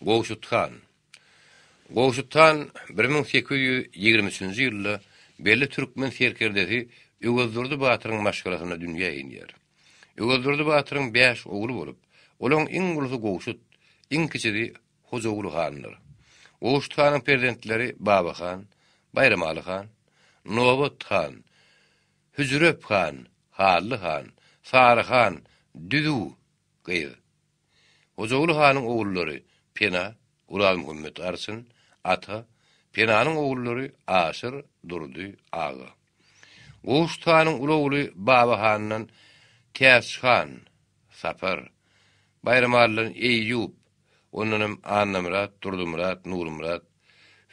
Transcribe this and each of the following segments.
Gowşut han. Gowşut han bir müň sekiz ýüz ýigrimi üçünji ýylda belli türkmen serkerdesi Öwezdurdy batyryň maşgalasynda dünýä inýär. Öwezdurdy batyryň bäş ogly bolup, olaň iň ulusy Gowşut, iň kiçisi Hojaguly handyr. Gowşut hanyň perzentleri Baba han, Baýramaly han, Nobat han, Hüjrep han, Hally han, Sary han, Düzüw gyz. Hojagul hanyň ogullary Pena, Guralmuhammet Arçyn, Ata, Penanyň ogullary Aşyr, Durdy, Aga. Gowşut hanyň uly ogly Baba handan Täç han, Sapar, Baýramalydan Eýýup, ondan hem Annamyrat, Durdumyrat, Nurumyrat,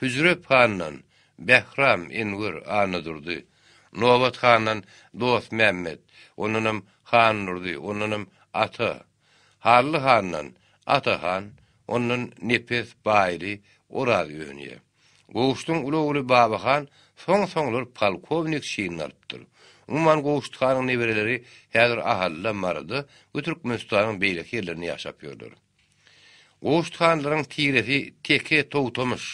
Hüzrep handan Bähram, Enwer, Annadurdy, Nobat handan Dostmämmet, ondanam Handurdy, ondanam Ata, Hally handan Ata han, ondan Nepes, Baýly, Oraz önýär. Goştuň uly ogly Baba han soň-soňlar polkownik çinini alypdyr. Umuman Goşt hanyň nebereleri häzir Ahalla, Maryda we Türkmenistanyň beýleki ýerlerinde ýaşap ýörler. Goşt hanlaryň tiresi teke togtamyş,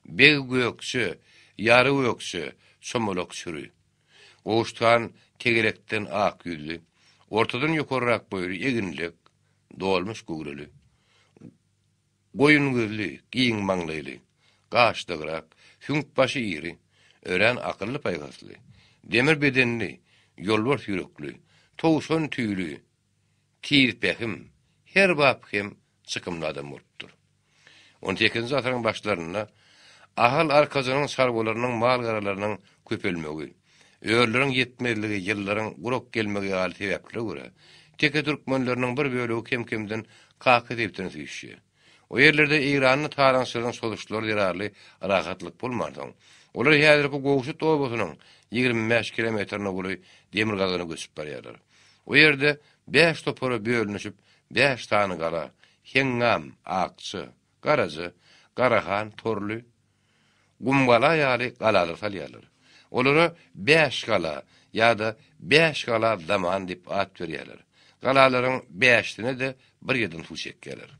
beg gökje, ýary gökje, çomalak çüri. Goşt han tegelekden ak ýüzli, ortadan ýokarrak boýly, eginlek, dolmuş göwreli, goýun gözli, giň maňlaýly, gaşdygrak, süňk başy iri, örän akylly-paýhasly, demir bedenli, ýolbars ýürekli, towşan tüýli, Tirpehim her bap hem çykymly adam bolupdyr. On sekizinji asyryň başlarynda Ahal Arkajanyň çarwalarynyň mal-garalarynyň köpelmegi, örleriň ýetmezligi, ýyllaryň gurak gelmegi ýaly sebäplere görä, teke türkmenleriniň bir bölegi kem-kemden Kaka sebitine süýşýär. O ýerlerde Eýranyň talaňçylarynyň sozuşlary zerarly rahatlyk bolmansoň, olar häzirki Gowşut obasynyň ýigrimi bäş kilometr nowly demirgazygna göçüp barýarlar. O ýerde bäş topara bölünişip, bäş sany gala, Heňňam, Akja, Garaja, Garahan, Torly, Gumgala ýaly galalar salýarlar. Olara Bäş gala ýa-da Bäş gala zaman diýip at berýärler. Galalaryň bäşisine-de bir ýerden suw çekýärler.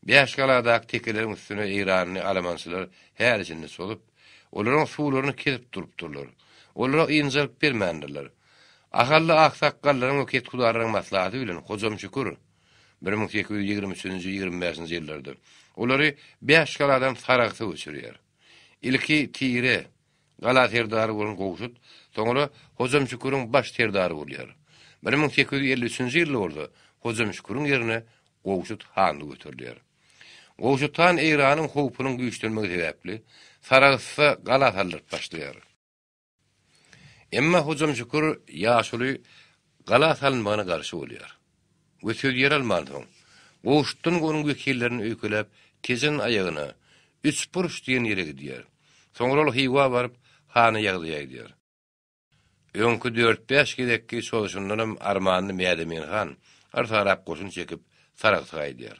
Bäş galadaky tekeleriň üstüne eýranly alamançylar häli-şindi çozup, olaryň suwlaryny kesip durupdyrlar. Olara ynjalyk bermändirler. Ahally aksakgallaryň we kethudarylaryň maslahaty bilen Hojam Şükür, bir müň sekiz ýüz ýigrimi üçünji, ýigrimi bäşinji ýyllarda, olary bäş galadan Saragsa göçürýär. Ilki Tire gala serdary bolan Gowşut, soňra Hojam Şüküriň baş serdary bolýar. Bir müň sekiz ýüz elli üçünji ýylda bolsa Hojam Şüküriň ýerine Gowşut hanlyk göterilýär. Gowşut han Eýranyň howpunyň güýçlenmegi sebäpli, Saragsa gala saldyryp başlaýar. Emma Hojam Şükür ýaşuly gala salynmagyna garşy bolýar we söz ýer almansoň, goşutdan onuň wekillerini öýkeläp, Tejen aýagyna, Üçburç diýen ýere gidýär. Soňra ol Hywa baryp, hany ýagdaýa aýdýar. Öňki dört-bäş gezekki çozuşyndanam armanly Mädemin han yrsarap goşun çekip, Saragsa gaýdýar.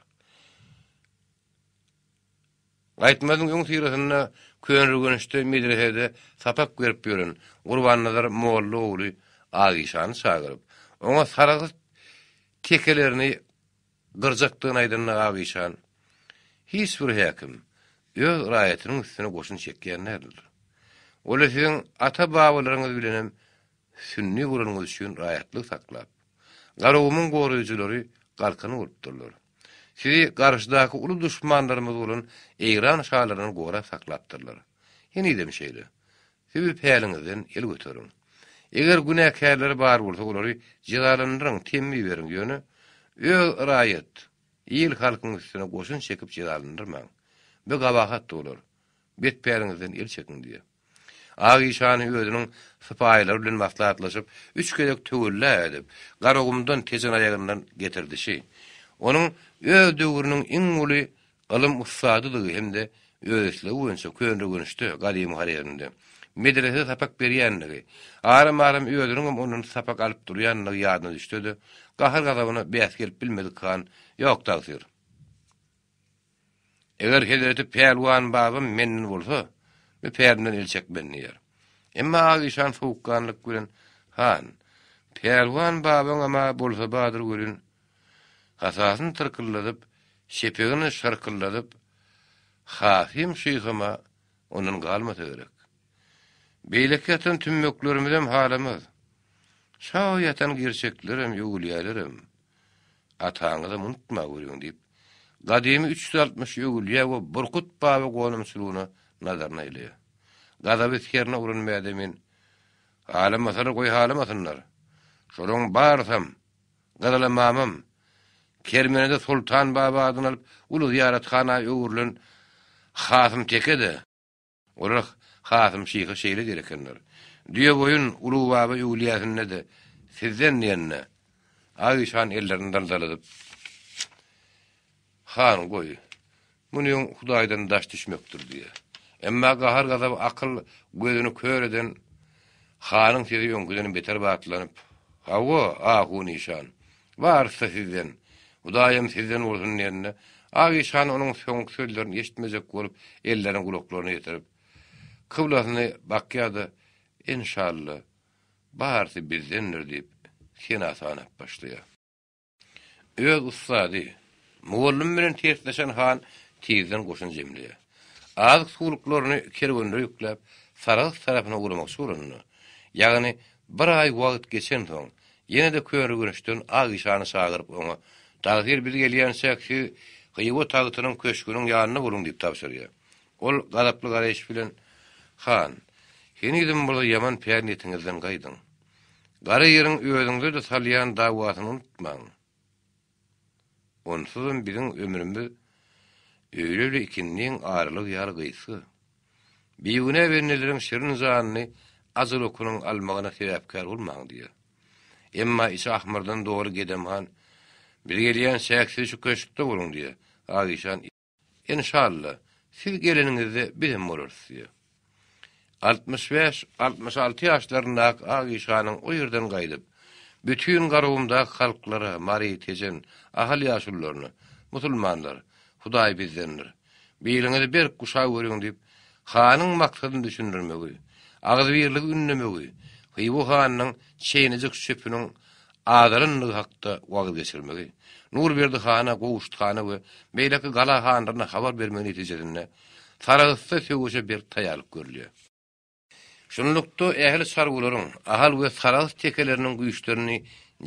Gaýtmazyň öňüsyrasynda Köneürgençde medresede sapak berip ýören Gurbannazar molla ogly Agyşany çagyryp, oňa sargyt tekelerini gyrjakdygyny aýdanda Agyşan, Hiç bir häkim öz raýatynyň üstüne goşun çekýän däldir. Ol-a siziň ata-babalaryňyz bilenem sünni bolanyňyz üçin raýatlygy saklap, Garagumuň goraýjylary galkany bolupdyrlar. Sizi garşydaky uly duşmanlarymyz bolan Eýran şalaryndan gorap saklapdyrlar. Henizem şeýle. Siz bu päliňizden el göteriň. Eger günäkärleri bar bolsa olary jezalandyryň, temmi beriň, ýöne öz raýat, il-halkyň üstüne goşun çekip jezalandyrmaň. Bu gabahatdy olar. Bet päliňizden el çekiň diýýär. Ak işany özüniň sypaýylary bilen maslahatlaşyp, üç gezek töwella edip, Garagumdan Tejanaýagyndan getirdişi, onuň öz döwrüniň iň uly ylym ussadydygy hem-de öz islegi boýunça Köneürgençde, gadymy Horezmde, medresede sapak berýändigi, aram-aram özüniň hem ondan sapak alyp durýandygy ýadyna düşse-de, gahar-gazabyna bäs gelip bilmedik han, Ýok, tagsyr! Eger hezreti Pälwan babam menden bolsa, öpärimden el çekmen diýer. Emma Agyşan sowukganlyk bilen, Han, Pälwan babaňam-a bolsa badyr welin, hasasyny tyrkyldadyp, şepegini şyrkyldadyp, Hasym şyham-a ondan galmasa gerek. Beýleki ýatan tümmeklerimizem halamaz. Şa ýatan girçeklerem, öwülýälerem. Ataňyzam unutmaweriň, diýip, Gadymy üç ýüz altmyş öwülýär we Burkut baba gonamçylygyna nazaryny aýlaýar. Gazaby skerna uran Mädemin, Halamasalar goý halamasynlar. Şolaryň barysam, Gyzyla mamam, Kermenede Soltan baba adyny alyp, uly zyýarathana öwrülen Hasym teke-de, Olar Hasym şyha şeýle diýer ekenler, Düýeboýun Ulubaba öwlüýäsinde-de sizden diýende, Aýyş han ellerini daldaladyp, Han, goý, muny öň Hudaýdan daş düşmekdir diýýär. Emma gahar-gazaba akyl gözüni kör eden hanyň sesi öňküden beter batlanyp, Hawa, ahun işan, Barysy sizden. Hudaýam sizden bolsun diýende, ak işhan onuň soňky sözlerini eşitmejek bolup, ellerini gulaklaryna ýetirip, kyblasyny bakýar-da, Enşalla, barysy bizdendir diýip, sena sanap başlaýar. Öz ussady, mugallym bilen tersleşen han tizden goşun jemleýär. Azyk-suwluklaryny kerwenlere ýükläp, Sarahs tarapyna ugramakçy bolanda, ýagny bir aý wagt geçensoň, Ýene-de körüginçden Aişany çagyryp, oňa, Tagsyr biz gelýänçäk, siz Hywa tagtynyň köşgüniň ýanynda boluň diýip tabşyrýar. Ol gazaply garaýyş bilen, Han, henizem bolsa ýaman pär-niýetiňizden gaýdyň. Gara ýeriň özüňize-de salýan dawasyny unutmaň. Onsuzam biziň ömrümiz öýle-le ikindiň aralygy ýaly gysga. Bigünä benneleriň şirin janyny ajal okunyň almagyna sebäpkär bolmaň diýýär. Emma içi ahmyrdan doly Gedem han, Biz gelýän çäksiz şu köşkde boluň diýýär. Agyşan. Enşalla, siz geleniňizde bizem bolarys, diýýär. Altmyş bäş, altmyş alty ýaşlaryndaky ak işganyň o ýerden gaýdyp, bütin Garagumdaky halklara, mary, tejen, ahal ýaşulularyna, Musulmanlar, Hudaý bizdendir. Biliňizi berk guşap görüň diýip, hanyň maksadyny düşündirmegi, agzybirligi ündemegi, Hywa hanynyň çeýnejik çöpüniň azalandygy hakda wagyz geçirmegi, Nurberdi hana, Gowşut hana we beýleki gala hanlaryna habar bermegi netijesinde, Sarahsda söweşe berk taýýarlyk görülýär. Şunlukda, ähli çarwalaryň Ahal we Sarahs tekeleriniň güýçlerini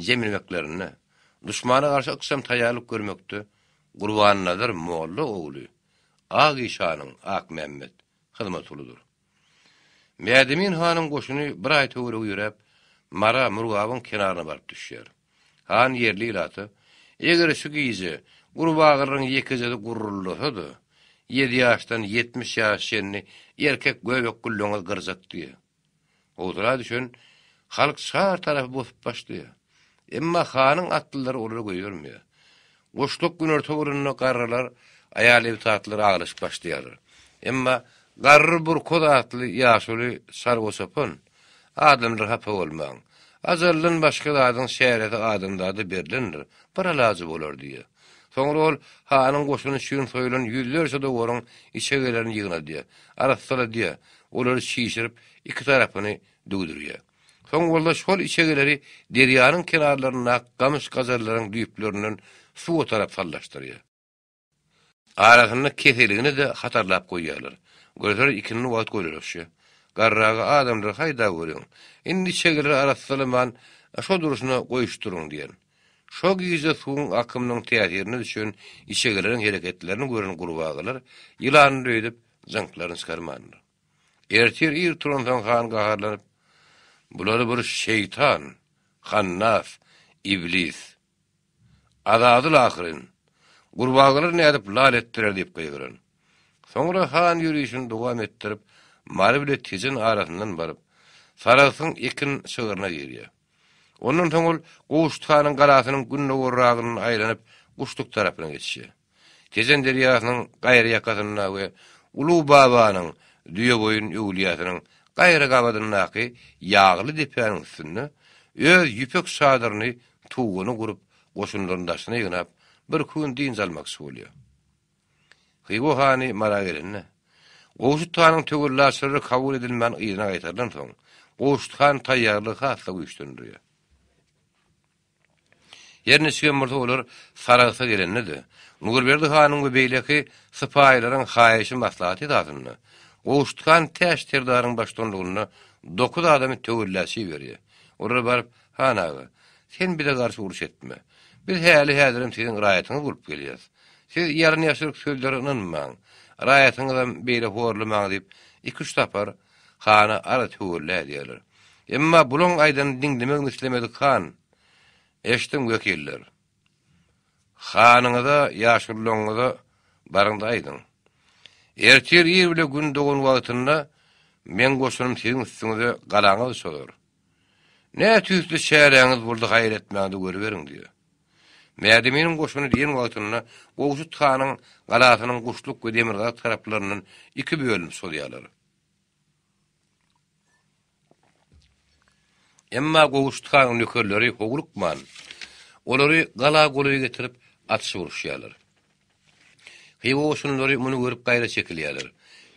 jemlemeklerinde, duşmana garşy ykjam taýýarlyk görmekde Gurbannazar molla ogly Ak işanyň, Akmämmet, hyzmaty uludyr. Mädemin hanyň goşuny bir aý töweregi ýöräp, Mara, Murgabyň kenaryna baryp düşýär. Han ýerli ilata, Eger şu gije gurbagyryň ýekejesi guruldasa-da, ýedi ýaşdan ýetmiş ýaşa çenli erkek göbek gülleňiz gyrjak diýýär. Howsala düşen halk şar tarapy bosup başlaýar. Emma hanyň atlylary olary goýbermeýär. Goşluk günorta bolanda garrylar, aýal-ebtatlar aglaşyp başlaýarlar. Emma garry Burkoz atly ýaşuly sargusapyn adamlar hapa bolmaň. Ajaldan başga zadyň çäresi adamzada berlendir, bir alajy bolar diýýär. Soňra ol hanyň goşuny üçin soýulan ýüzlerçe dowaryň içegelerini ýygnadýar, arassaladýar, olary çişirip, iki tarapyny düwdürýär. Soň bolsa şol içegeleri derýanyň kenarlaryndaky gamyş-gajallaryň düýplerinden suwa tarap sallaşdyrýar. Arasynda keseligini-de hatarlap goýýarlar. Görseler ikindi wagt golalaşýar. Garraga adamlar haýdap ýöriň. Indi içegeleri arassalaman, şo durşuna goýuşdyryň diýen. Şo gije suwuň akymynyň täsirine düşen içegeleriň hereketlerini gören gurbagalar ýylany döýdüp, jyňklaryny çykarmandyr. Ertir ir turansoň han gaharlanyp, Bulary bir şeýtan, hannas, iblis. Azazyl ahyryn. Gurbagalary nädip lal etdirer diýip gygyran. Soňra han ýörişini dowam etdirip, Mary bile Tejen arasyndan baryp, Saragsyň ekin şygryna girýär. Ondan soň ol Gowşut hanyň galasynyň gündogarragyndan aýlanyp, Guşluk tarapyna geçýär. Tejen derýasynyň gaýry ýakasynda we Uly Babanyň, Düýeboýun öwlüýäsiniň gaýry gabadyndaky ýagly depäniň üstünde öz ýüpek çadyryny, tuguny gurup, goşunlaryny daşyna ýygnap, birki gün dynç almakçy bolýar. Hywa hany Mara gelende, Gowşut hanyň töwellaçylary kabul edilmän yzyna gaýtarylansoň, Gowşut han taýýarlygy has-da güýçlendirýär. Her niçigem bolsa olar Saragsa gelende-de, Nurberdi hanyň we beýleki sypaýylaryň haýyşy-maslahaty esasynda, Gowşuthan Täç serdaryň baştutanlygynda dokuz adamy töwellaçy berýär. Olar baryp, Han aga, sen bize garşy uruş etme. Biz häli-häzirem siziň raýatyňyz bolup gelýäris. Siz ýalyn-ýaşryk sözlere ynanmaň. Raýatyňyzam beýle horlamaň diýip, iki-üç sapar Hana az tüwirlä diýerler. Emma bulaň aýdanyny diňlemegini islemedik han, Eşdiň, wekiller. Hanyňyza, ýaşululaňyza baryň-da aýdyň. Ertir ir bile gün dogan wagtynda meň goşunym siziň üstüňize galaňyzy çozar. Nä tüýsli çäräňiz boldy gaýra etmäňizi görüberiň diýýär. Mädeminiň goşuny diýen wagtynda Gowşut hanyň galasynyň Guşluk we Demirgazyk taraplaryndan iki bölünip sozýarlar. Emma Gowşut hanyň nökerleri howlukman, olary gala golaý getirip atyşyp uruşýarlar. Hywa goşunlary muny görüp gaýra çekilýärler.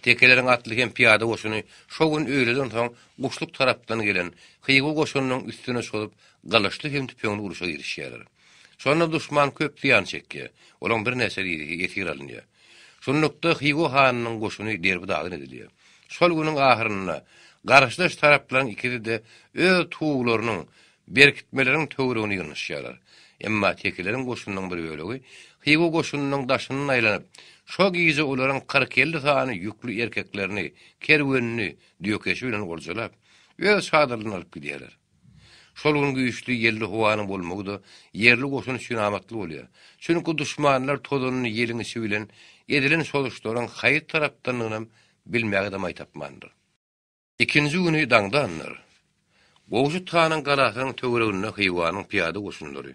Tekeleriň atly hem pyýada goşuny şo gün öýleden soň Guşluk tarapdan gelen Hywa goşunynyň üstüne çozup, gylyçly hem tüpeňli uruşa girişýärler. Şonda duşman köp zyýan çekýär, olaň birnäçe rizigi esir alynýar. Şunlukda Hywa hanynyň goşuny derbi-dagyn edilýär. Şol günüň ahyrynda garşydaş taraplaryň ikisi-de öz tuwlarynyň Berkitmeleriň töweregine ýygnaşýarlar. Emma tekileriň goşunynyň bir bölegi Hywa goşunynyň daşyndan aýlanyp, şo gije olaryň kyrk-elli sany ýükli erkeklerini, kerwenini düýekeşi bilen oljalap, öz çadyrlaryna alyp gidýärler. Şol gün güýçli ýelli howanyň bolmagy-da ýerli goşun üçin amatly bolýar. Çünki duşmanlar tozanyny ýeliň içi bilen edilen çozuşlaryň haýsy tarapdanlygynam bilmäge-de maý tapmandyr. Ikinji güni daňdandyr. Gowşut hanyň galasynyň töwereginde Hywanyň pyýada goşunlary,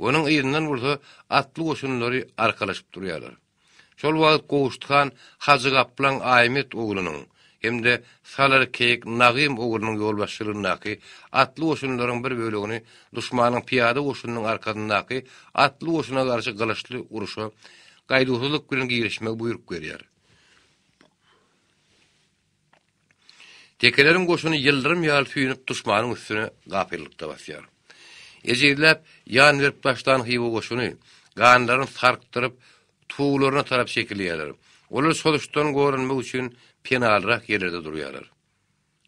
onuň yzyndan bolsa atly goşunlary arkalaşyp durýarlar. Şol wagt Gowşut han Hajy Gaplaň Aýmet oglunyň hem-de Salar keýik Nagym oglunyň ýolbaşçylygyndaky atly goşunlaryň bir bölegini duşmanyň pyýada goşunynyň arkasyndaky atly goşuna garşy gylyçly uruşa gaýduwsyzlyk bilen girişmegi buýruk berýär. Tekeleriň goşuny ýyldyrym ýaly süýnüp duşmanyň üstüne gapyllykda basýar. Ejizläp, ýan berip başlan Hywa goşuny, ganlaryny sarkdyryp, tuwlaryna tarap çekilýärler. Olar çozuşdan goranmak üçin penalyrak ýerlerde durýarlar.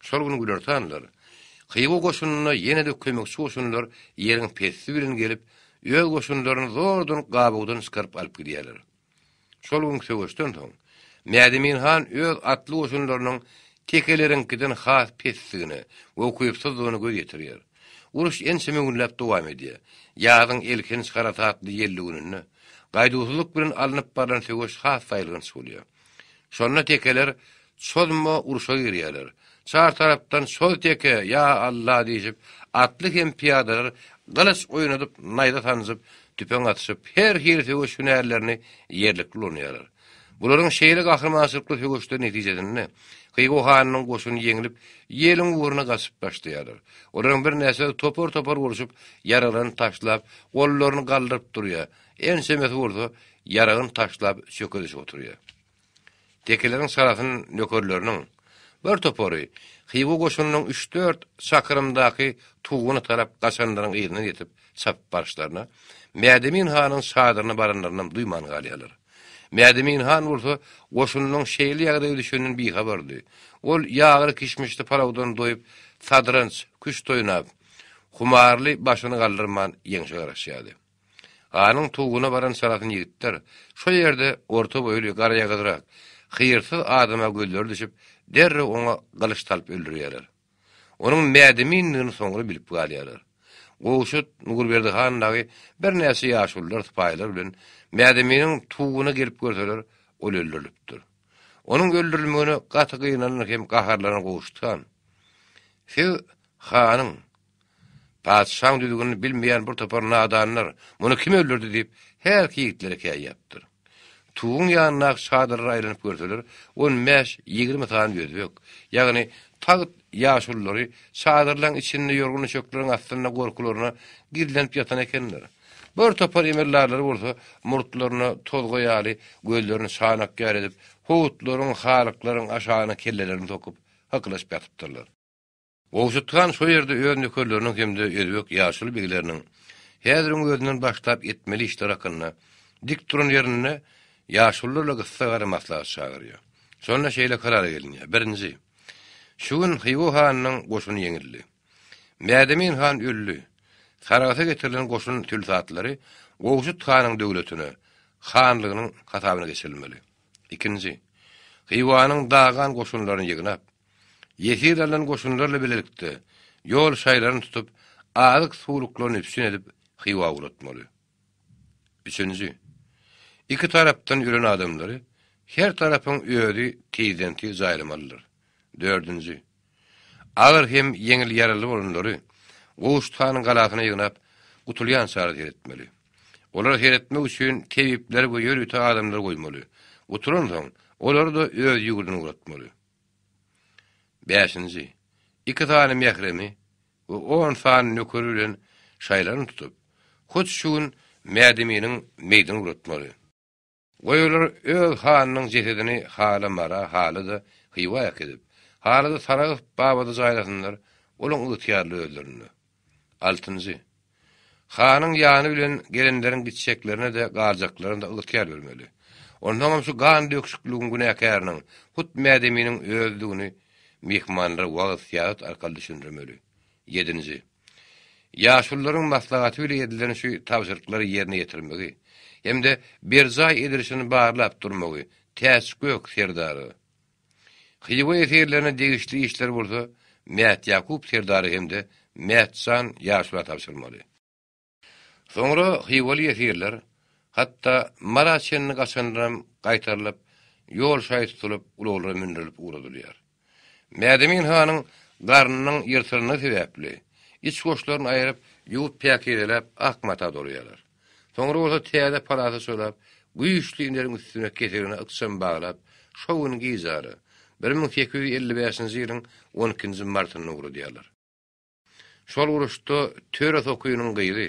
Şol gün günortanlar, Hywa goşunyna ýene-de kömekçi goşunlar ýeriň pesti bilen gelip, öz goşunlaryny zordan gabawdan çykaryp alyp gidýärler. Şol gün söweşden soň, Mädemin han öz atly goşunlarynyň tekeleriňkiden has pesdigine we ukypsyzdygyna göz ýetirýär. Uruş ençeme günläp dowam edýär. Ýazyň elhenç harasatly ýelli gününde, gaýduwsyzlyk bilen alnyp barlan söweş has saýylganç bolýar. Şonda tekeler Çozma urşa girýärler. Çar tarapdan Çoz teke, ýa Alla diýşip, atly hem pyýadalar gylyç oýnadyp, naýza sanjyp, tüpeň atyşyp, her hili söweş hünärlerini ýerlikli ulanýarlar. Bularyň şeýle gahrymançylykly söweşleri netijesinde Hywa hanynyň goşuny ýeňlip, ýeliň ugruna gaçyp başlaýarlar. Olaryň birnäçesi topar-topar bolşup, ýaraglaryny taşlap, gollaryny galdyryp durýar, ençemesi bolsa ýaragyny taşlap çökediş oturýar. Tekeleriň sarasyn nökerleriniň bir topary Hywa goşunynyň üç-dört çakyrymdaky Tuguna tarap gaçanlaryň yzyndan ýetip çapyp baryşlaryna, Mädemin hanyň çadyryna baranlarynam duýman galýarlar. Mädemin han bolsa goşunynyň şeýle ýagdaýa düşeninden bihabardy. Ol ýagly-kişmişli palawdan doýup, sadranç, küşt oýnap, humarly başyny galdyrman ýeňşe garaşýardy. Ganyň tuwuna baran çalasyn ýigitler şo ýerde orta boýly garaýagyzrak, hyýrsyz adama gözleri düşüp, derrew oňa gylyç salyp öldürýärler. Onuň mädemindigini soňra bilip galýarlar. Gowşut, Nurberdi han dagy birnäçe ýaşulylar sypaýylar bilen Mädeminiň tuwuna gelip görseler, ol öldürilipdir. Onuň öldürilmegine gaty gynanan hem gaharlanan Gowşut han, Siz hanyň, Patyşaň düzgünini bilmeýän bir topar nadanlar, Muny kim öldürdi? diýip, hälki ýigitlere käýýäpdir. Tuguň ýanyndaky çadyrlara aýlanyp görseler, on bäş, ýigrimi sany özbek, ýagny tagt ýaşululary çadyrlaryň içinde ýorgan-düşekleriň astynda gorkularyna gizlenip ýatan ekenler. Bir topar emeldarlary bolsa murtlaryna tozga ýaly gözlerini çanak ýaly edip, howutlaryň, halyklaryň aşagyna kellelerini sokup, hykylaşyp ýatypdyrlar. Gowşut han şo ýerde öz nökerleriniň hem-de özbek ýaşuly begleriniň häziriň özünden başlap etmeli işleri hakynda dik duran ýerinde ýaşulylarla gyssa gara maslahat çagyrýar. Şonda şeýle karara gelinýär, birinji, Şu gün Hywa hanynyň goşuny ýeňildi. Mädemin han öldi. Saragasa getirilen goşun tülsatlary Gowşut hanyň döwletine, hanlygynyň hasabyna geçirilmeli. Ikinji, Hywanyň dagan goşunlaryny ýygnap, Ýesir alan goşunlarla bilelikde ýol şaýlaryny tutup, azyk-suwluklaryny üpjün edip, Hywa ugratmaly. Üçünji. Iki tarapdan ýören adamlary her tarapyň özi tizden-tiz jaýlamalydyr. Dördünji. Agyr hem ýeňil ýaraly bolanlary Gowşut hanyň galasyna ýygnap, gutulýançary seretmeli. Olary seretmek üçin tebipler we ýörite adamlar goýmaly. Gutulansoň, olary-da öz ýurduna ugratmaly. Bäşinji, iki sany mähremi we on sany nökeri bilen şaýlaryny tutup, hut şu gün Mädeminiň meýdini uratmaly. Goý olar öz hanynyň jesedini hala Mara, hala-da Hywa äkidip, hala-da Saragyp babada jaýlasynlar, olaň ygtyýarly özlerinde. Altynjy. Hanyň ýany bilen gelenleriň gitjeklerine-de, galjaklaryna-da ygtyýar bermeli. Onsoňam şu gan döküşikligiň günäkäriniň hut Mädeminiň özüdigini myhmanlara wagyz-syýasat arkaly düşündirmeli. Ýedinji. Ýaşulularyň maslahaty bile edilen şu tabşyryklary ýerine ýetirmegi hem-de berjaý edilişini barlap durmagy Täçgök serdara, Hywa esirlerine degişli işler bolsa Mätýakup serdara hem-de Mätjan ýaşula tabşyrylmaly. Soňra hywaly esirler, hatda Mara çenli gaçanlaram gaýtarylyp, ýol şaýy tutulyp, ulaglara mündürilip ugradylýar. Mädemin hanyň garnynyň ýyrtylandygy sebäpli, iç-goşlaryny aýryp, ýuwup-päkizeläp, ak mata dolaýarlar. Soňra bolsa täze palata çolap, güýçli ineriň üstüne keserine ykjam baglap, şo gün gijara, bir müň sekiz ýüz elli bäşinji ýylyň on ikinji martynda ugradýarlar. Şol uruşda Töre sokynyň gyzy,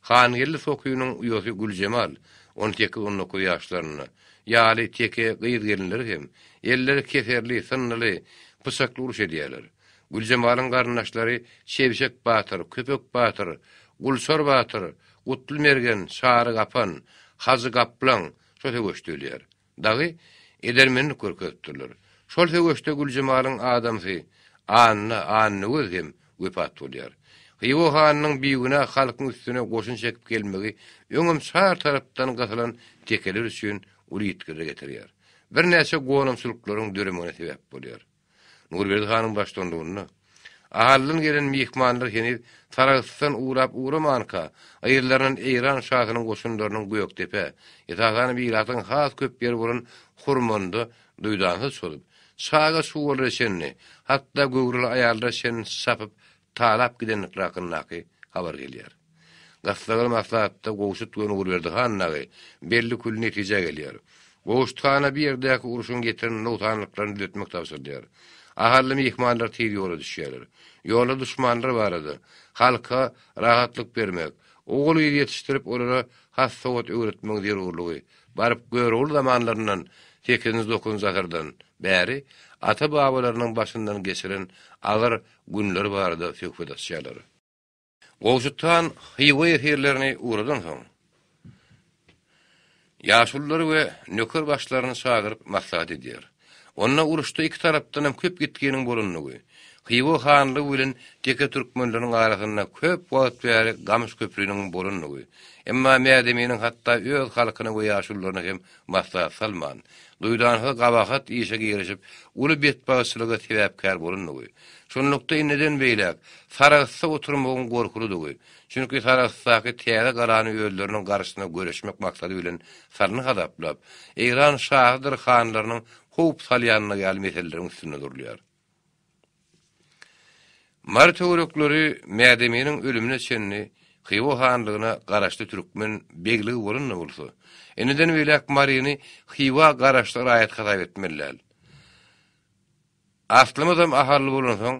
Hangeldi sokynyň uýasy Güljemal, on sekiz-on dokuz ýaşlarynda, ýaly teke gyz-gelinler hem, elleri keserli, synnyly, pyçakly uruş edýärler. Güljemalyň garyndaşlary Çebşek batyr, Köpek batyr, Gulsar batyr, Gutly mergen, Çary gapan, Hajy gaplaň şo söweşde ölýär. Dagy edermenlik görkezipdirler. Şol söweşde Güljemalyň adamsy Anna, Annagöz, hem wepat bolýar. Hywa hanynyň bigünä halkyň üstüne goşun çekip gelmegi öňem çar tarapdan gysylan tekeler üçin uly ýitgirre getirýär. Birnäçe gonamçylyklaryň döremegine sebäp bolýar. Nurberdi hanyň baştutanlygynda Ahaldan gelen myhmanlar heniz Sarahsdan urap-uramanka, yzlaryndan Eýran şasynyň goşunlarynyň Gökdepe, esasan ilatyň has köp ýeri bolan Hurmanda duýdansyz çozup, çaga-çuwallara çenli, hatda göwreli aýallara çenli çapyp talap gidenlikleri hakyndaky habar gelýär. Gyssaly maslahatda Gowşut bilen Nurberdi han dagy belli kül netijä gelýär. Gowşut hana bu ýerdäki urşuň getiren nogsanlyklaryny düzetmek tabşyrylýar. Ahally myhmanlar tiz ýola düşýärler. Ýolda duşmanlar barada, halka rahatlyk bermek, ogul-gyz ýetişdirip olara has sowat öwretmegiň zerurlygy, baryp Görogly zamanlaryndan, sekizinji-dokuzynjy asyrdan, bäri ata-babalarynyň başyndan geçiren agyr günleri barada söhbet açýarlar. Gowşut han Hywa esirlerini ugradansoň, ýaşululary we nöker başlaryny çagyryp maslahat edýär. Onda uruşda iki tarapdan hem köp ýitginiň bolandygy, Hywa hanlygy bilen teke türkmenleriň arasynda köp wagt bäri gamyş köpriniň bolandygy, emma Mädeminiň hatda öz halkyny we ýaşulularyny hem maslahat salman, duýdansyz gabahat işe girişip, uly betbagtçylyga sebäpkär bolandygy, şunlukda indiden beýläk Sarahsda oturmagyň gorkulydygy, çünki Sarahsdaky täze galany özleriniň garşysyna göreşmek maksady bilen salny hasaplap, Eýran şahydyr hanlarynyň howp salýanlygy ýaly meseleleriň üstünde durulýar. Mary töwerekleri Mädeminiň ölümine çenli Hywa hanlygyna garaşly türkmen begligi bolan-da bolsa, indiden beýläk Maryny Hywa garaşly raýat hasap etmeli däl. Aslymyzam ahally bolansoň,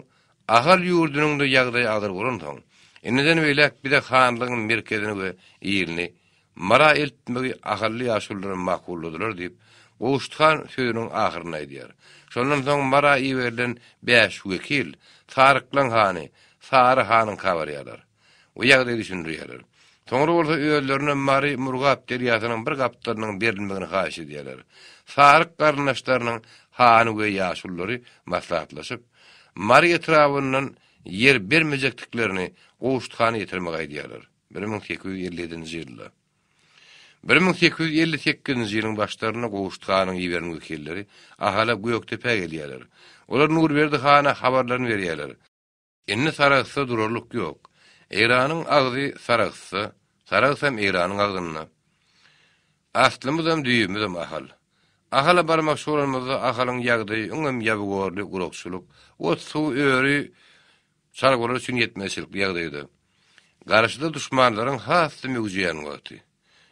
Ahal ýurdunyň-da ýagdaýy agyr bolansoň, indiden beýläk biz-ä hanlygyň merkezini we ilini Myra eltmegi ahally ýaşulularam makulladylar diýip, Gowşut han sözüniň ahyryny aýdýar. Şondan soň Myra iberilen bäş wekil Saryklaň hany Sary hanyňka barýarlar we ýagdaýy düşündirýärler. Soňra bolsa özlerine Mary Murgap derýasynyň bir gapdalynyň berilmegini haýyş edýärler. Saryk garyndaşlarynyň hany we ýaşululary maslahatlaşyp, Mary etrabyndan ýer bermejekdiklerini Gowşut hana ýetirmegi aýdýarlar. Bir müň sekiz ýüz elli ýedinji ýylda. Bir müň sekiz ýüz elli sekizinji ýylyň başlarynda Gowşut hanyň iberen wekilleri Ahala Gökdepä gelýärler. Olar Nurberdi hana habarlaryny berýärler. Indi Sarahsda durarlyk ýok. Eýranyň agzy Sarahsda, Saragsam Eýranyň agzynda. Aslymyzam, düýbümizem Ahal. Ahala barmakçy bolanymyzda Ahalyň ýagdaýy öňem ýabygorly, gurakçylyk, ot-suw, öri, Çarwalar üçin ýetmezçilikli ýagdaýda, garşyda duşmanlaryň has-da möwjeýän wagty.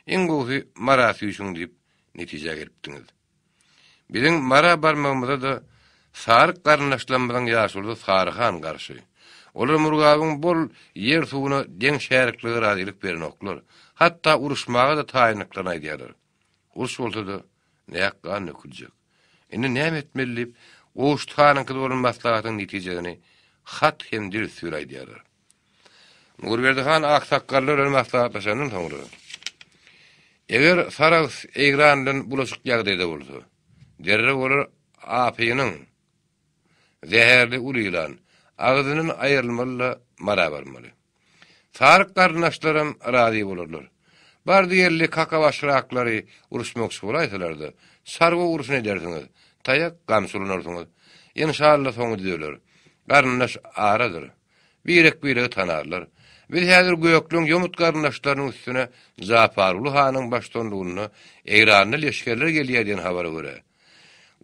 Iň gowusy Mara süýşüň diýip, netijä gelipdiňiz. Biziň Mara barmagymyza-da Saryk garyndaşlarymyzyň ýaşulusy Sary han garşy. Olar Murgabyň bol ýer-suwuna deň şärikligi razylyk berenoklar, hatda uruşmaga-da taýyndyklaryny aýdýarlar. Uruş bolsa-da, näk gan döküljek. Indi näme etmeli diýip, Gowşut hanyňkyda bolan maslahatyň netijesini hat hem dürsüri aýdýarlar. Nurberdi han aksakgallar bilen maslahatlaşandan soňra, Eger Sarahs Eýran bilen bulaşyk ýagdaýda bolsa, derrew olar Apynyň, Zäherli uly ýylan, agzyndan aýrylmaly-da Mara barmaly. Saryk garyndaşlaram razy bolarlar. Bardy ýerli kakabaş raklary uruşmakçy bolaýsalar-da, çarwa urşuny edersiňiz, taýak gamçy ulanarsyňyz. Enşalla soňy düzeler. Garyndaş aradyr. Birek-biregi tanarlar. Biz häzir Gökleň ýomut garyndaşlarynyň üstüne Japaruly hanyň baştuanlygynda Eýranly leşgerler gelýär diýen habara görä,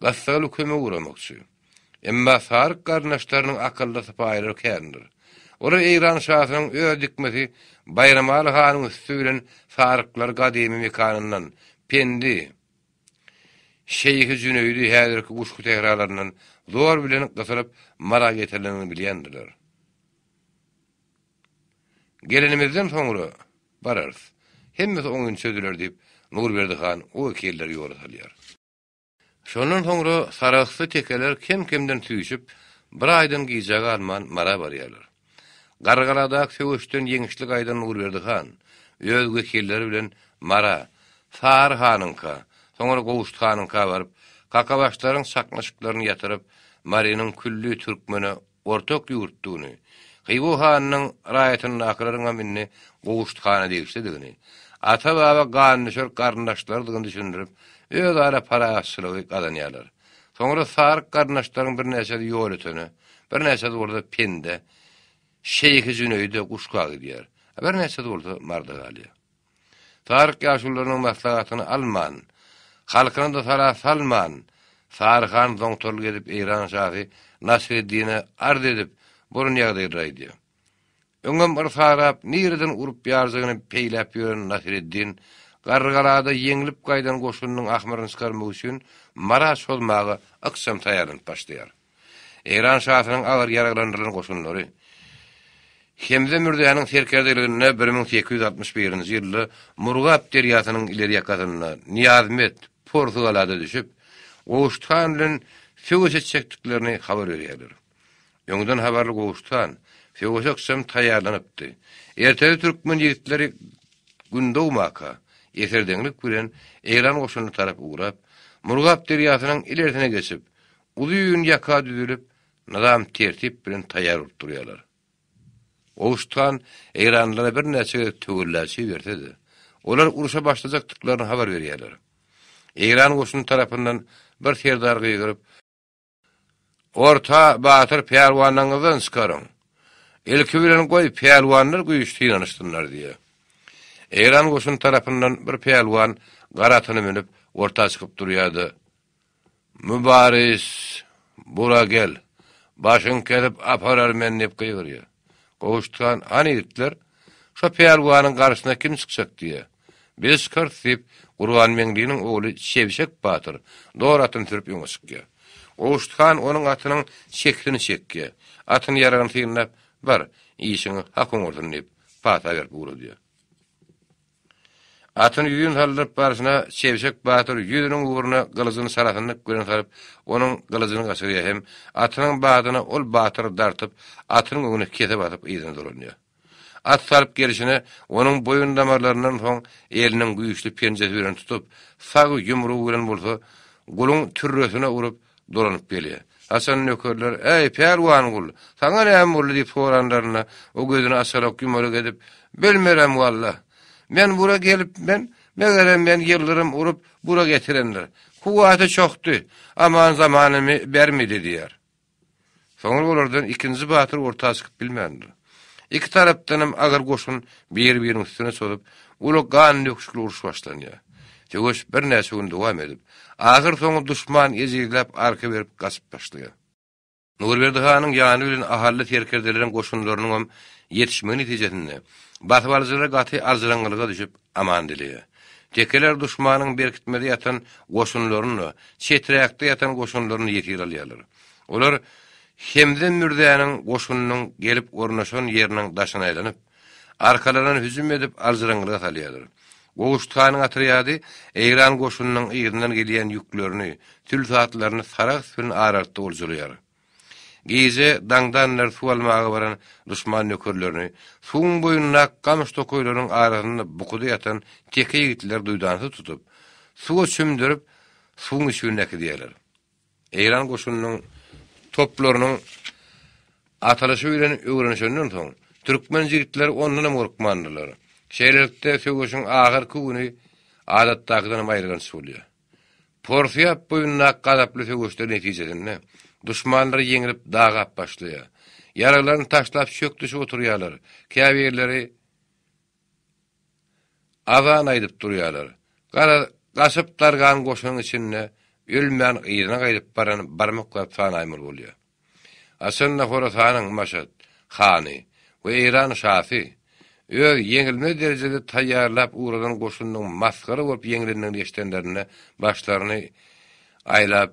Gassaly kömek uramakçy. Emma saryk garyndaşlarynyň akylly sypaýylary kändir. Olar Eýran şasynyň öz dikmesi Baýramaly hanyň üsti bilen saryklary gadymy mekanyndan, Pendi, Şeýhi Jüneýdi häzirki guşgy sähralaryndan zor bilen gysylyp Mara getirilendigini bilýändirler. Gelenimizden soňra bararys. Hemmesi oňyn çözüler diýip, Nurberdi han o wekilleri ýola salýar. Şondan soňra saragtly tekeler kem-kemden süýşüp, bir aýdan gijä galman Mara barýarlar. Gargaladaky söweşden ýeňişli gaýdan Nurberdi han öz wekilleri bilen Mara, Sary hanyňka, soňra Gowşut hanyňka baryp, kakabaşlaryň çaknyşyklaryny ýatyryp, Marynyň külli türkmene Ortak ýurtdugyny, Hywa hanynyň raýatyndakylaryň hem indi Gowşuthana degişlidigini, ata-baba gandüşer garyndaşlarydygyny düşündirip, özara parahatçylygy gazanýarlar. Soňra Saryk garyndaşlaryň birnäçesi Ýolötene, birnäçesi bolsa Pendä, Şeýhi Jüneýde guşga gidýär, birnäçesi bolsa Marda galýar. Saryk ýaşulularynyň maslahatyny alman, halkyna-da sala salman, Sary han zoňtorly gezip Eýran şasy Nasreddine arz edip, bolan ýagdaýlary aýdýar. Öňem yr sarap, nireden urup ýarjagyny peýläp ýören Nasreddin, Garrygalada ýeňlip gaýdan goşunynyň ahmyryny çykarmak üçin Mara çozmaga ykjam taýýarlanyp başlaýar. Eýran şasynyň agyr ýaraglandyrylan goşunlary Hemze Mürzäniň serkerdeliginde bir müň sekiz ýüz altmyş birinji ýylda Murgap derýasynyň ileri ýakasynda Nyýazmet, Porsugalada düşüp, Gowşut han bilen söweş etjekdiklerini habar berýärler. Öňden habarly Gowşut han söweşe ykjam taýýarlanypdy. Ertesi türkmen ýigitleri Gün dogmaka, eserdeňlik bilen Eýran goşunyna tarap ugrap, Murgap derýasynyň ilersine geçip, Uly gün ýaka düzülip, nyzam-tertip bilen taýýar bolup durýarlar. Owuş han eýranlylara birnäçe gezek töwella çiberse-de, olar urşa başlajakdyklaryny habar berýärler. Eýran goşuny tarapyndan bir serdar gygyryp, Orta batyr pälwanyňyzdan çykaryň! Ilki bilen goý, pälwanlar güýç synanyşsynlar diýýär. Eýran goşuny tarapyndan bir pälwan gara atyna münüp, orta çykyp durýar-da, Mübaris, bura gel! Başyňy kesip aparar men diýip gygyrýar. Gowşut han, Hany ýigitler, şo pälwanyň garşysyna kim çykjak diýýär. Biz çykarys diýip, Gurbanmeňliniň ogly Çebşek batyr dor atyny sürüp öňe çykýar. Gowşut han onuň atynyň çekisini çekýär. Atyny ýaragyny synlap, Bar, işiňi hak oňarsyň diýip, pata berip ugradýar. Atyny ýüzin saldyryp barşyna Çebşek batyr ýüziniň ugruna gylyjyny çarasyndyk bilen salyp, onuň gylyjyny gaçyrýar hem atynyň badyna ol batyry dartyp, atynyň öňüne kese basyp yzyna dolanýar. At salyp gelşine, onuň boýun damarlaryndan soň eliniň güýçli penjesi bilen tutup, sag ýumrugy bilen bolsa, guluň türresine urup, dolanyp gelýär. Haçan nökerler, Äý, Pälwangul, saňa näme boldy diýip soranlarynda, o gözüni açarak-ýumarak edip, Bilmerem, walla. Men bura gelipmen, megerem meni ýyldyrym urup, bura getirendir. Kuwwaty çokdy, aman-zamanymy bermedi diýýär. Soňra olardan ikinji batyr orta çykyp bilmändir. Iki tarapdanam agyr goşun biri-biriniň üstüne çozup, uly gan döküşikli uruş başlanýar. Söweş birnäçe gün dowam edip, ahyr soňy duşman ejizläp arka berip gaçyp başlaýar. Nurberdi hanyň ýany bilen ahally serkerdeleriň goşunlarynyňam ýetişmegi netijesinde, basybalyjylar gaty aljyraňňylyga düşüp, aman dileýär. Tekeler duşmanyň berkitmede ýatan goşunlaryny-da, çeträkde ýatan goşunlaryny ýesir alýarlar. Olar Hemze mürzäniň goşunynyň gelip ornaşan ýeriniň daşyna aýlanyp, arkalaryna hüjüm edip aljyraňňylyga salýarlar. Gowşut hanyň otrýady eýran goşunynyň yzyndan gelýän ýüklerini, tülsatlaryny Sarahs bilen aralykda oljalaýar. Gije daňdandyr suw almaga baran duşman nökerlerini suwuň boýundaky gamyş tokaýlarynyň arasynda bukuda ýatan teke ýigitler duýdansyz tutup, suwa çümdürip, suwuň içgünine äkidýärler. Eýran goşunynyň toplarynyň atalyşy bilen öwrenişenden soň, türkmen jigitleri ondan hem gorkmandylar. Şeýlelikde, söweşiň ahyrky güni adatdakydan hem aýylganç bolýar. Porsiýap boýundaky gazaply söweşler netijesinde, duşmanlar ýeňilip dagap başlaýar. Ýaraglaryny taşlap çök düşüp oturýarlar, käbirleri Azan aýdyp durýarlar. Garaz, gaçyp dargan goşunyň içinde ölmän yzyna gaýdyp baran barmaklap sanaýmaly bolýar. Haçanda Horasanyň Maşat hany we Eýran şasy öz ýeňilmez derejede taýýarlap ugradan goşunynyň masgara bolup ýeňilendigini eşidenlerinde başlaryny aýlap,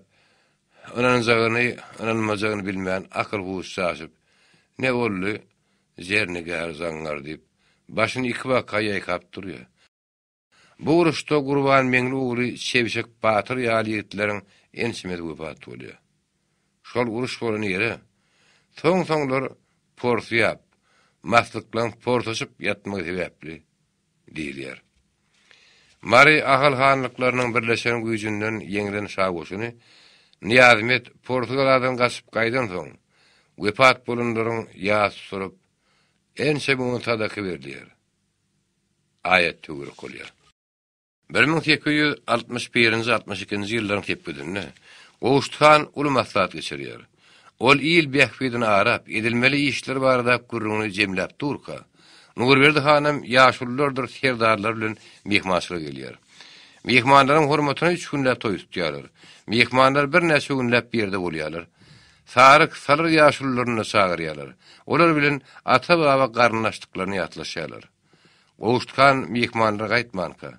ynanjagyny-ynanmajagyny bilmän akyl-huş çaşyp, Ne boldy, Zernigär zaňňar diýip, başyny iki baka ýaýkap durýar. Bu uruşda Gurbanmeňli ogly Çebşek batyr ýaly ýigitleriň ençemesi wepat bolýar. Şol uruş bolan ýere, soň-soňlar Porsyýap, maslyklaň porsaşyp ýatmagy sebäpli, diýilýär. Mary Ahal hanlyklarynyň birleşen güýjünden ýeňlen şa goşuny Nyýazmet Porsygaladan gaçyp gaýdansoň, wepat bolanlaryň ýas tutulyp, ençe müňi sadaka berilýär. Aýat töwerek bolýar. Bir müň sekiz ýüz altmyş birinji altmyş ikinji ýyllaryň sepgidinde Gowşut han uly maslahat geçirýär. Ol il bähbidini arap, edilmeli işler barada gürrüňini jemläp durka, Nurberdi hanam ýaşululardyr serdarlary bilen myhmançylyga gelýär. Myhmanlaryň hormatyna üç günläp toý tutýarlar. Myhmanlar birnäçe günläp bir ýerde bolýarlar. Saryk, Salyr ýaşulularyny-da çagyrýarlar. Olar bilen ata-baba garyndaşdyklaryny ýatlaşýarlar. Gowuşkan myhmanlar gaýtmanka,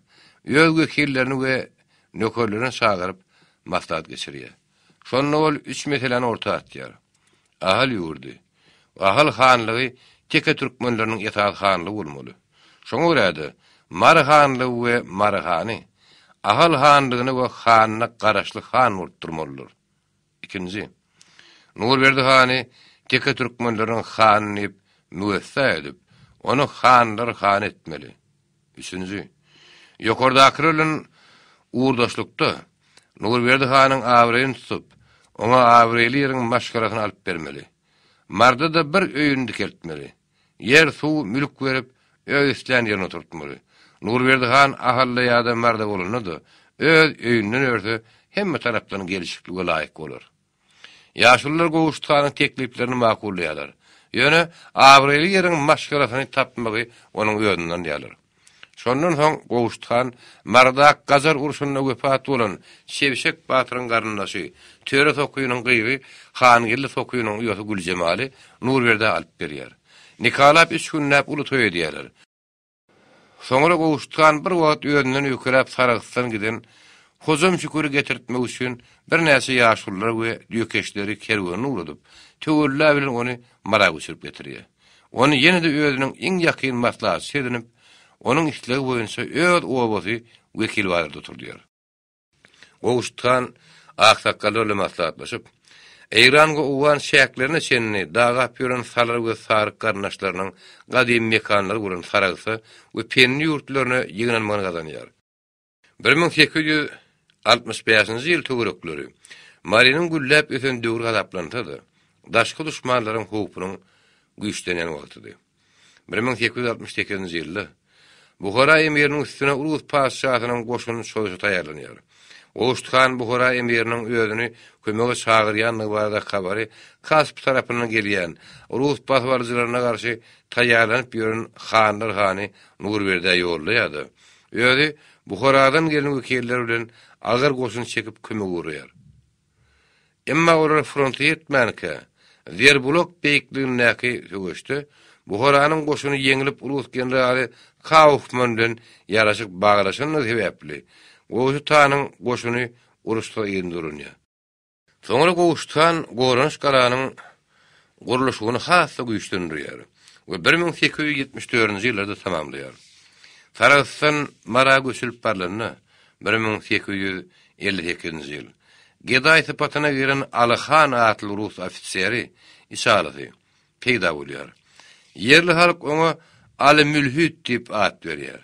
öz wekillerini we nökerlerini çagyryp, maslahat geçirýär. Şonda ol üç meseläni orta atýar. Ahal ýurdy, Ahal hanlygy teke türkmenleriniň esasy hanlygy bolmaly. Şoňa görä-de, Mary hanlygy we Mary hany Ahal hanlygyna we hanyna garaşly han bolup durmalydyr. Ikinji. Nurberdi hany teke türkmenleriň hany diýip müwessa edip, ony hanlar hany etmeli. Üçünji. Ýokardakylar bilen ugurdaşlykda, Nurberdi hanyň abraýyny tutup, oňa abraýly ýeriň maşgalasyny alyp bermeli. Marda-da bir öýüni dikeltmeli. Ýer, suw, mülk berip, öz islän ýerine oturtmaly. Nurberdi han Ahal-da ýa-da Marda bolanda-da, öz öýünden örse, hemme tarapdan gelşiklige laýyk bolar. Ýaşulular Gowşut hanyň tekliplerini makullaýarlar. Ýöne abraýly ýeriň maşgalasyny tapmagy onuň özünden ýalyr. Şondan soň Gowşut han Marydak-Gajar urşunda wepat bolan Çebşek batyryň garyndaşy, Töre Sokynyň gyzy Hangeldi Sokynyň uýasy Güljemaly Nurberdä alyp berýär. Nikalap üç günläp uly toý edýärler. Soňra Gowşut han bir wagt özünden öýkeläp Saragtdan giden Hojam Şüküri getirtmek üçin birnäçe ýaşululary we düýekeşleri kerwenini ugradyp, töwella bilen ony Mara göçürip getirýär. ony ýene-de özüniň iň ýakyn maslahatçysy edinip, onuň islegi boýunça öz obasy wekilbazarda oturdýar. Gowşut han aksakgallar bilen maslahatlaşyp, Eýrangu owgan çäklerine çenli dagap ýören salar we saryk garyndaşlarynyň gadymy mekanlary bolan Saragsa we Penli ýurtlaryna ýygnanmagyny gazanýar. Bir müň sekiz ýüz altmyş bäşinji ýyl töwerekleri Marynyň gülläp ösen döwri hasaplansa-da, daşky duşmanlaryň howpunyň güýçlenýän wagtydy. Bir müň sekiz ýüz altmyş sekizinji ýylda Buhara emiriniň üstüne Urus patyşasynyň goşuny çoýşa taýýarlanýar. Goşt han Buhara emiriniň özüni kömege çagyrýandygy barada habary Kasp tarapyndan gelýän, rus basybalyjylaryna garşy taýýarlanyp ýören hanlar hany Nurberdä ýollaýar-da, Özi Buharadan gelen wekiller bilen agyr goşun çekip kömege ugraýar. Emma olar fronta ýetmänkä, Zerbulak beýikligindäki söweşde Buharanyň goşuny ýeňlip rus generaly Kaufman bilen ýaraşyk baglaşandygy sebäpli, Goşutanyň goşuny uruşda ýyndyrylýar. Soňra Gowşutan goranyş galanyň gurluşygyny has-da güýçlendirýär we bir müň sekiz ýüz ýetmiş dördünji ýyllarda tamamlaýar. Sarahsdan Mara göçülip barylanda, bir müň sekiz ýüz elli sekizinji ýyl, gedaý sypatyna giren Aly han atly rus ofiseri, içalysy, peýda bolýar. Ýerli halk oňa Aly mülhit diýip at berýär.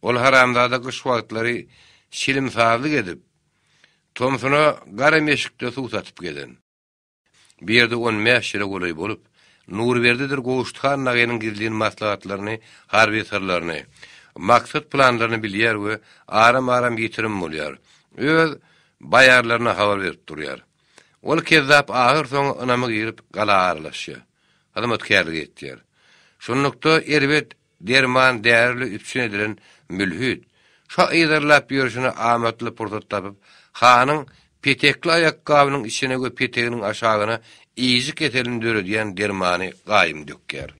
Ol haramzada gyş wagtlary şilim-sazlyk edip, tomsuna gara meşikde suw satyp gezen. Bu ýerde on bäş ýyla golaý bolup, Nurberdidir Gowşuthan nagynyň gizlin maslahatlaryny, harby syrlaryny, maksat-planlaryny bilýär we aram-aram ýitirim bolýar, öz baýarlaryna habar berip durýar. Ol kezzap ahyrsoňy ynama girip, gala aralaşýar. Hyzmatkärlik etýär. Şunlukda, erbet Derman därili üpjün edilen mülhit, şa yzarlap ýörşüne amatly pursat tapyp, hanyň petekli aýakgabynyň içine we peteginiň aşagyna ýyjy keselini döredýän dermany gaýym dökýär.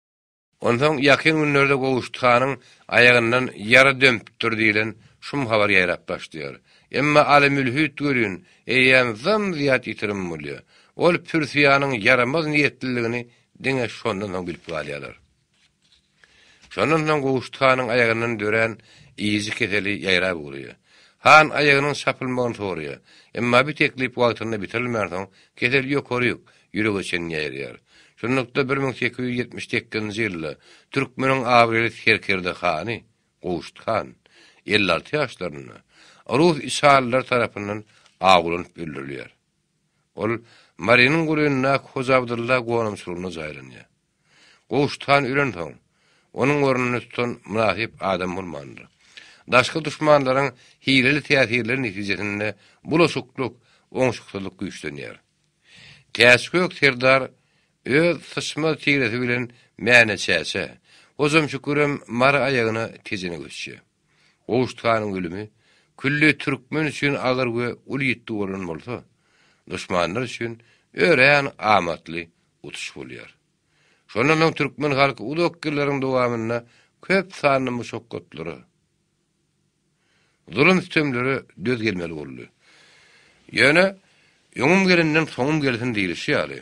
Onsoň ýakyn günlerde Gowşut hanyň aýagyndan ýara dömpüpdir diýlen şum habar ýaýrap başlaýar. Emma Aly mülhit welin, eýýäm zym-zyýat ýitirim bolýar. Ol pürsiýanyň ýaramaz niýetliligini diňe şondan soň bilip galýarlar. Şondan soň Gowşut hanyň aýagyndan dörän ýyjy keseli ýaýrap ugraýar. Han aýagynyň çapylmagyny soraýar. Emma bi teklip wagtynda bitirilmänsoň, kesel ýokary ýük, ýürege çenli ýaýraýar. Şunlukda bir müň sekiz ýüz ýetmiş sekizinji ýylda türkmeniň abraýly serkerde hany Gowşut han, elli alty ýaşlarynda, rus içalylary tarapyndan awlanyp öldürilýär. Ol Marynyň golaýyndaky Hoja Abdylla gonamçylygynda jaýlanýar. Gowşutan ölensoň, onuň ornuny tutan mynasyp adam bolmandyr. Daşky duşmanlaryň hileli täsirleri netijesinde bulaşyklyk, oňşuksyzlyk güýçlenýär. Täçgök serdar öz syçmaz tiresi bilen Mäne çäçe, Hojamşükürem Mary aýagyna tejene göçýär. Gowşutanyň ölümi külli türkmen üçin agyr we uly ýitgi bolan bolsa, duşmanlar üçin örän amatly utuş bolýar. Şondan soň türkmen halky uzak ýyllaryň dowamynda köp sanly muşakgatlara, zulum-sütemlere döz gelmeli boldy. Ýöne, öňüm gelenden soňum gelsin diýlişi ýaly,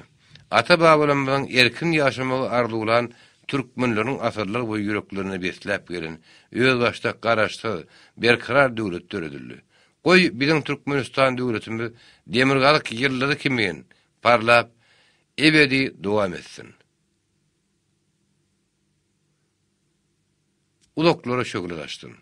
ata-babalarymyzyň erkin ýaşamagy arzuwlan türkmenleriň asyrlar boýy ýüreklerinde besläp gelen özbaşdak Garaşsyz, berkarar döwlet döredildi. Goý, biziň Türkmenistan döwletimiz demirgazyk ýyldyzy kimin Parlap ebedi dowam etsin. Uzaklara şöhle saçsyn.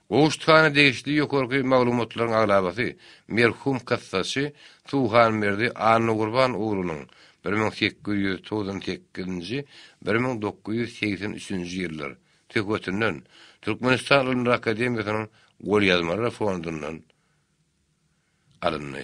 Gowuşthana degişli ýokarky maglumatlaryň aglabasy merhum kassaçy Tuhanberdi Annagurban oglunyň bir müň sekiz ýüz togsan sekizinji, bir müň dokuz ýüz segsen üçünji ýyllar söhbetinden Türkmenistan Ylymlar akademiýasynyň golýazmalar fondundan alyndy.